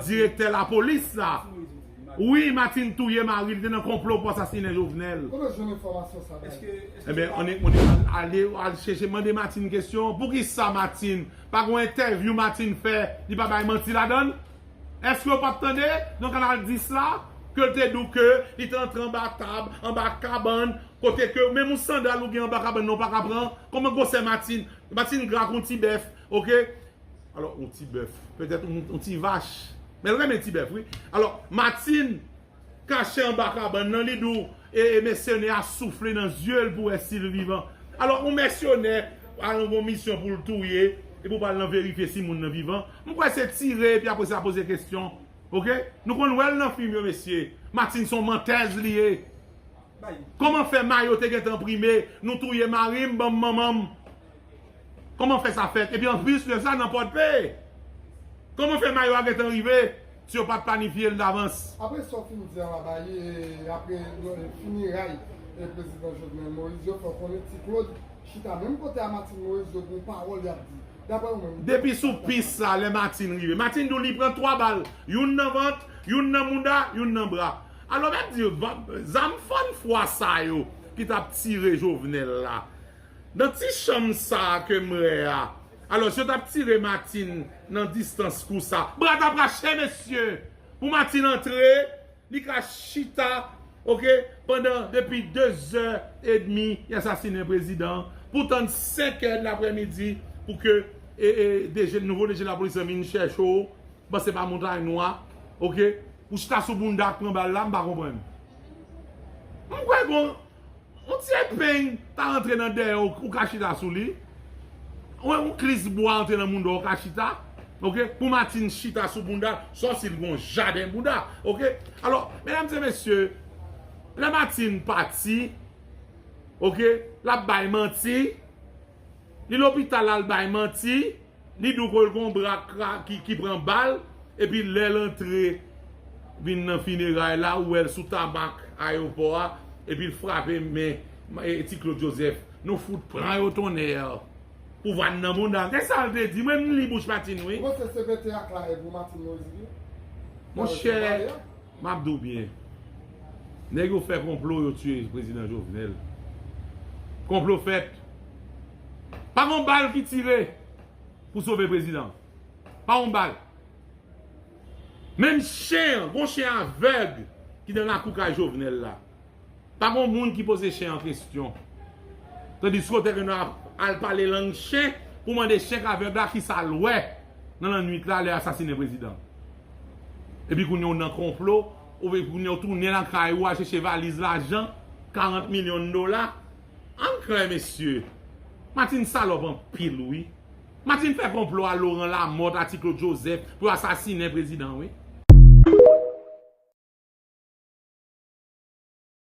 Direktè lapolis sa wi matin touye mari li te nan konplo pou asasine jovenel. Kote w jwenn enfòmasyon sa Dayou? Ebyen annik moun yo ale al chèche mande Martine kesyon poukisa Martine pa gon entèvyou Martine fè li pa bay manti ladann èske ou pap tande nan kanal 10 la ke l te di w ke li te antre anba tab anba kabann kote ke menm yon sandal ou gen anba kabann nan ou paka pran kòman gwosè Martine Martine gra kon ti bèf ok. Alò, yon ti bèf. Petèt yon ti vach. Men l renmen ti bèf, wi. Alò, Matin kache anba kabann nan, li di w, e mèsenè a soufle nan zye l pou wè si l vivan. Alò, yon mèsenè al nan yon misyon pou l touye, epi w pral nan verifye si moun nan vivan. M kwè se tire epi apre sa poze kesyon. Ok? Nou konn wè l nan fim yo, mesye. Matin se yon mantèz li ye. Kòman fè mayo te gentan enprime, nou touye mari m, ban m manman m. Koman fè sa fèt? Epi anplis de sa nan Pòdpe! Koman fè mayo a gentan rive si yo pat planifye l davans? Apre sa w fin di a la bay e apre finiray prezidan Jovenel Moïse yo fè w konnen Ti Klod chita menm kote a Martine Moïse yo gon pawòl y ap di. Daprè ou menm. Depi sou pis sa lè Martine rive. Martine di w li pran 3 bal, youn nan vant, youn nan mouda, youn nan bra. Alò mèt di w, zam fann fwa sa yo ki t ap tire Jovenel la, Nan ti chanm sa ke m wè a. Alos yo tap tire Martine nan distans kou sa. Bra tap rache mesye! Pou Martine antre, li ka chita ok pandan depi 2 zè edmi y asasinen prezidan pou tann 5 è lapremidi pou ke DG nouvo DG lapolis lan vin chèche w paske se pa montay nwa ok pou chita sou bounda ak pran bal la m pa konprann. M kwè gon. On ti epeng ta rantre nan dèyè w ou ka chita sou li. Wè on klis bwa antre nan bounda w ou ka chita. Ok pou Martine chita sou bounda sòf si l gon jaden bounda. Ok alò medam se mesye lè Martine pati ok l ap bay manti li lopital la l bay manti. Li di w ke gon bra ki pran bal epi lè l antre vin nan fineray la ou wè l sou tamak ayewopò a epi l frape men Ti Claude Joseph Nou fout pran yo tonnèrr Pouvwa n nan bounda Gade sa l te di mwen m li bouch Matin wi Bon se CPT ak la e pou Matin Moise vre Monchè m ap di w byen nèg yo fè konplo yo tiye Prezidan Jovenel Konplo fèt Pa gon bal ki tire pou sove prezidan. Pa gon bal. Menm chen an, gon chen avèg ki nan lakou kay Jovenel la. Pa gon moun ki poze chen an kestyon. Tandiske w te gen dwa al pale lang chen pou mande chen k avèg la ki sa l wè nan lannwit la lè yo asasinen prezidan. Epi kounye w nan konplo, kounye w tounen lakay ou al chèche valiz lajan, 40 milyon dola. Ann klè mesye. Martine salòp anpil wi. Martine fè konplo a Laurent Lamothe a ti Claude Joseph pou yo asasinen prezidan wi.